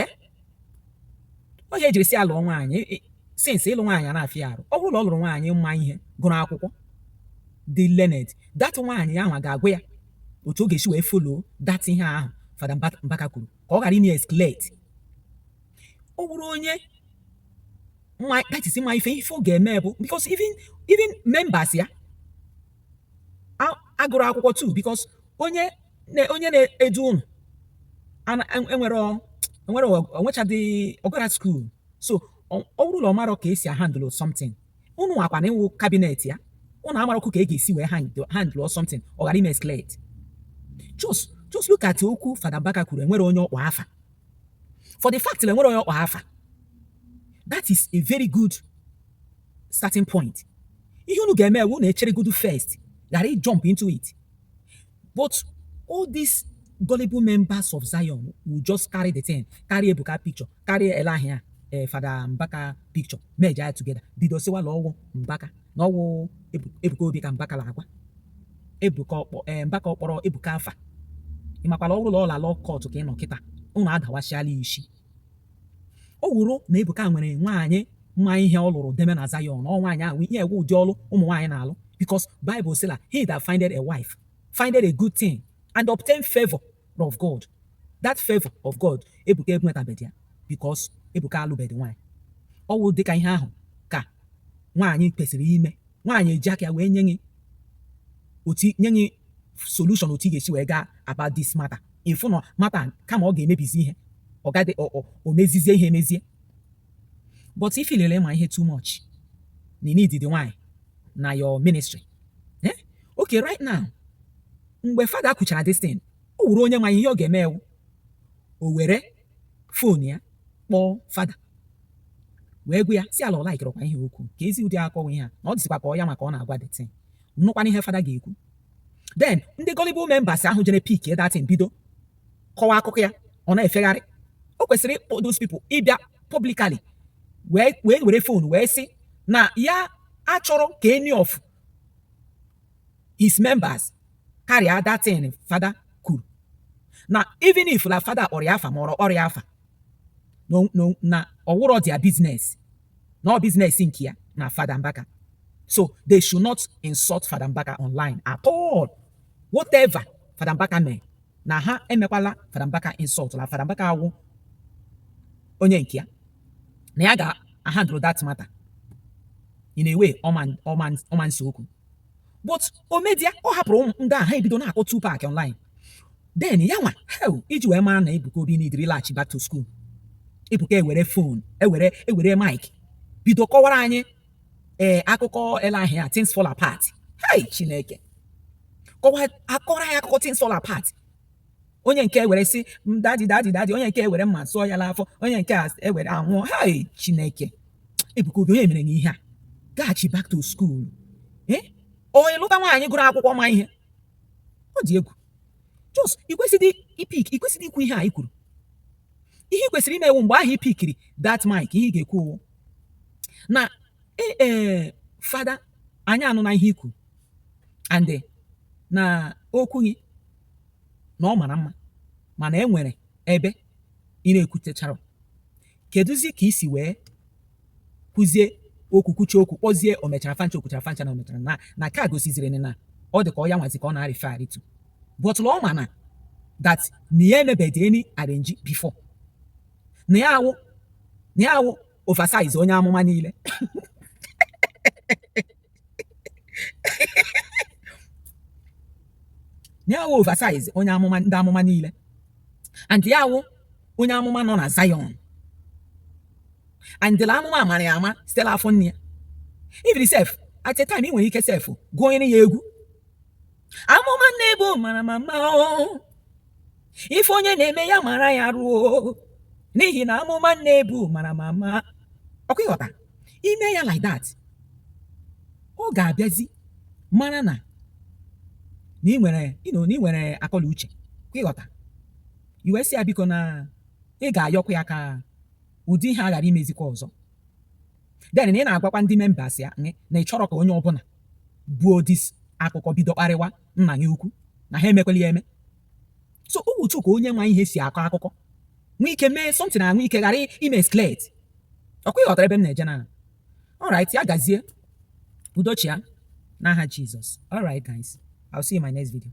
ee ọ ya e jiri sị a lụọ nwaanyị since ịlụ nwaanyị a na-afịa arụ ọ wụrụ na ọ lụrụ nwaanyị ma ihe gụrụ akwụkwọ dị learned that nwaanyị ahụ ga-agwa ya otu ọ ga-esi wee follow that ihe ahụ fada mbaka kwuru ka ọ ghara ime escalate ọ wụrụ onye that is ma ife ife ọ ga-eme bụ because even even members ya agụrụ akwụkwọ too because onye na onye na-edu unu enwere enwere o nwechadị ọ gara school so ọ wụrụ na ọ marọ ka esi ahandle something unu nwa kwanụ wụ cabinet ya unu amarọkwụ ka e ga-esi wee handle something ọ ghara ime escalate just just look at okwu Fada Mbaka kwuru enwerọ onye ọ kpọ afa for the fact na enwerọ onye ọ kpọ afa that is a very good starting point ihe unu ga-eme awụ unu echere godu first ghara jump into it but all these gullible members of Zion will just carry the thing carry Ebuka picture carry Elahia eh, Fada Mbaka picture merge ya together bido sịwa na ọ wụ Mbaka na ọ wụ Ebuka Obi ka Mbaka na-agwa Ebuka ọ kpọ eh, Mbaka ọ kpọrọ Ebuka afa ị makwa la ọ wụrụ la ọ la law court ka ị nọ kịta unu adawasịala isi Ọ wụrụ na Ebuka nwere nwaanyị ma ihe ọ lụrụ deme na Zion, ọ nwaanyị ahụ ihe a wụ ụdị ọlụ ụmụ nwaanyị na-alụ because Bible sị na he that findeth a wife findeth a good thing and obtain favor of God. That favor of God Ebuka enwetabedị ya because Ebuka alụbedị nwaanyị. Ọ wụ dịka ihe ahụ ka nwaanyị kwesịrị ime. nwaanyị eji aka ya wee nye gị otu nye gị solution otu ị ga-esi wee gaa about this matter ị fụ na matter kama ọ ga-emebizi ihe ọ gadị o mezizie ihe emezie but i feel la ị ma ihe too much na i needidị nwaanyị na your ministry eh? okay right now mgbe fada kwuchara this thing ọ wụrụ onye ma ihe ọ ga-eme awụ o were phone ya kpọọ fada wee gwa ya sị ya la ọ likeirọkwa ihe okwu ka ezi ụdị akọwa ihe a na ọ dịzikwa ka ọ ya maka ọ na-agwa the thing nụkwanụ ihe fada ga-ekwu then ndị gullible members ahụ jere pick that thing bido kọwa akụkọ ya ọ na-efegharị o kwesịrị ịkpọ those people ịbịa publicly wee wee were phone wee sị na ya achọrọ ka any of his members carry that thing fada kwuru na even if na fada kpọrọ ya afa ma ọ kpọrọ ya afa na ọ wụrọ their business na ọ business nke ya na fada mbaka so they should not insult fada mbaka online at all whatever fada mbaka mee na ha emekwala fada mbaka insult na fada mbaka awụ onye nke ya na ya ga-ahandle that matter in a way ọ ma nse okwu but immediately ọ hapụrụ ụmụ ndị ahụ ebido na-akpọ Tupac online then ya wụ ihe e ji wee mara na Ebuka Obi needịrị ịlachi back to school Ebuka ewere phone ewere ewere mic bido kọwara anyị ee akụkọ ele ahịa things fall apart hey Chineke kọwa akọrọ anyị akụkọ things fall apart onye nke ewere sị dadi dadi dadi onye nke ewere mma sụọ ya n'afọ onye nke a ewere anwụọ ha chineke ebuka obi onye mere na ihe a gaghachi back to school eh? onye lụta nwaanyị gụrụ akwụkwọ ma ihe ọ dị egwu just i kwesịrị ipick i kwesịrị ikwu ihe a i kwuru ihe ị kwesịrị ime wụ mgbe ahụ i pickiri that mic ihe ị ga-ekwu wụ na ee e, father anyị anụna ihe i kwu and eh, na okwu gị na ọ mara mma mana e nwere ebe ị na-ekwutechara. Kedụzi ka i si wee kwuzie okwu kwuchie okwu kpọzie o mechara fancha o kwuchara fancha na o mechara na na nke a gosiziri na ọ dị ka ọ ya nwazi ka ọ na-arịfe arịtu but na ọ ma na that na ya emebedị any arrangee before na ya awụ na ya awụ oversize onye amụma niile ya wụ oversize onye amụma ndị amụma niile and ya wụ onye amụma nọ na Zion and amụma amara ya ama site n'afọ nne ya even sef at a time ị nwere ike sef gụnyere ya egwu amụma na-ebu mara mma mma ife onye na-eme ya mara ya ruo n'ihi na amụma na-ebu mara mma mma ọkwa ịghọta i mee ya like that ọ ga-abịazi mara na na ị nwere ịnọ na ị nwere akọ la uche kwa ịghọta i wee sị ya biko na ị ga-ayọkwa ya ka ụdị ihe a ghara imezikwa ọzọ then na ị na-agwakwa ndị members ya na ị chọrọ ka onye ọbụla buo this akụkọ bido kparịwa nna ya ukwu na ha emekwala ya eme so ọ wụ otu ka onye ma ihe si akọ akụkọ nwee ike mee something nwee ike ghara ime escalate ọkwa ịghọtara ebe m na-eje na alright ya gazie udo chịa n'aha Jesus alright guys I'll see you in my next video